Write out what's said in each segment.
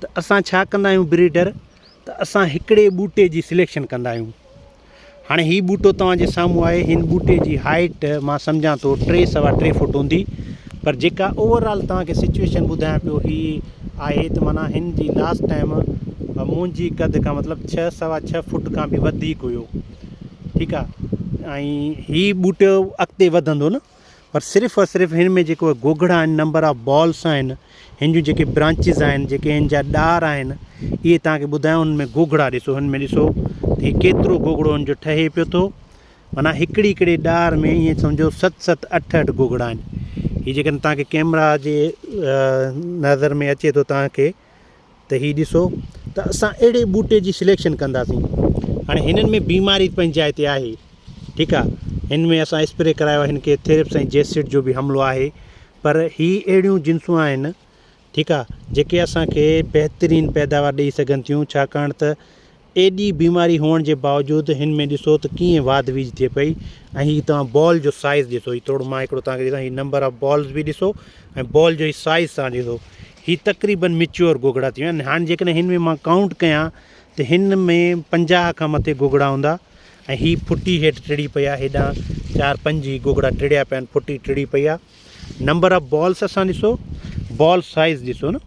ته اسان ڇا ڪندا آهيون بريڊر ته اسان هڪڙي ٻوٽي جي سليڪشن ڪندا آهيون هاڻي هي ٻوٽو توهان جي سامهون آهي هن ٻوٽي جي هائيٽ مان سمجهان ٿو ٽي سوا ٽي فوٽ هوندي پر جيڪا اوور آل توهان کي سچويشن ٻڌايان پيو هي آهي ته مانا هن جي لاسٽ ٽائم منهنجي قد کان مطلب ڇهه سوا ڇهه فوٽ کان به وڌيڪ هيو ٺيڪ آهي ۽ هي ٻوٽو اڳتي وڌندو نه پر صرف اور صرف هن ۾ جيڪو گوگڙا آهن نمبر آف بالس آهن هن جون جيڪي برانچز آهن جيڪي هن جا ڏار آهن اهي تهان کي ٻڌايو هن ۾ گوگڙا ڏسو هن ۾ ڏسو ته هي ڪيترو گوگڙو هن جو ٺهي پيو ٿو معنيٰ هڪڙي هڪڙي ڏار ۾ ائين سمجهو ست ست اٺ اٺ گوگڙا آهن هي جيڪڏهن تهان کي ڪيمرا جي نظر ۾ اچي ٿو تهان کي ته هي ڏسو ته اسان اهڙي ٻوٽي جي سليڪشن ڪنداسين هاڻي هنن ۾ بيماري پنهنجي جاء تي آهي ٺيڪ آ هن ۾ اسان اسپري ڪرايو آهي هن کي ٿريپس ۽ جيسٽ جو به حملو آهي پر هي اهڙيون جنسون آهن ٺيڪ آ جيڪي اسان کي بهترين پيداوار ڏئي سگهن ٿيون ڇاڪاڻ ته ايڏي بيماري هئڻ جي باوجود هن ۾ ڏسو ته ڪيئن واڌ ويجهه ٿئي پئي ۽ هي توهان بال جو سائيز ڏسو هي توڙو مان هڪڙو توهان کي ڏسان هي نمبر آف بالز به ڏسو ۽ بال جو هي سائيز توهان ڏسو هي تقريبن ميچيور گوگڙا ٿي ويا آهن هاڻ جيڪڏهن هن ۾ مان ڪائونٽ ڪيان ته هن ۾ پنجاهه کان مٿي گوگڙا هوندا ۽ هي ڦٽي هيٺ ٽڙي پئي آهي هيڏانهن چار پنج هي گوگڙا ٽڙيا پيا آهن ڦٽي ٽڙي پئي آهي نمبر آف بالز اسان ڏسو بال سائيز ڏسو نه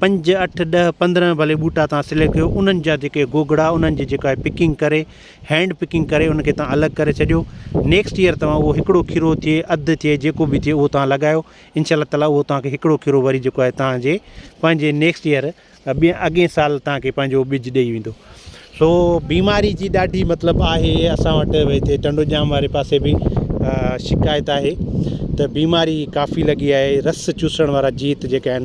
پنج اٺ ڏهه پندرهن ڀلي ٻوٽا تان سليڪٽ ڪيو انهن جا جيڪي گوگڙا انهن جي جيڪا پڪنگ ڪري هينڊ پڪنگ ڪري ان کي تان الڳ ڪري ڇڏيو نيڪسٽ ايئر توهان اهو هڪڙو کيرو ٿئي اڌ ٿئي جيڪو به ٿئي اهو تان لڳايو ان شاء الله تعالٰي اهو تان کي هڪڙو کيرو وري جيڪو آهي تان جي پنهنجي نيڪسٽ ايئر ٻين اڳين سال تان کي پنهنجو ٻج ڏئي ويندو سو بيماري جي ڏاڍي مطلب آهي اسان وٽ ويت ٽنڊو ڄام واري پاسي به شڪايت آهي ته بيماري ڪافي لڳي آهي رس چوسڻ وارا جيت جيڪا آهن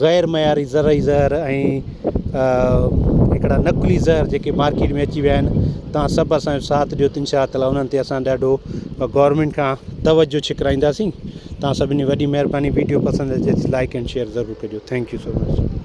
غير معياري زرعي زهر ۽ هڪڙا نقلي زهر جيڪي مارڪيٽ ۾ اچي ويا آهن تان سڀ اسان جو ساٿ ڏيو تن شاء تعاليٰ انهن تي اسان ڏاڍو گورنمينٽ کان توجهه ڇڪرائينداسين تان سڀني وڏي مهرباني ويڊيو پسند اچي لائڪ اينڊ شيئر ضرور ڪجو ٿينڪ يو سو مچ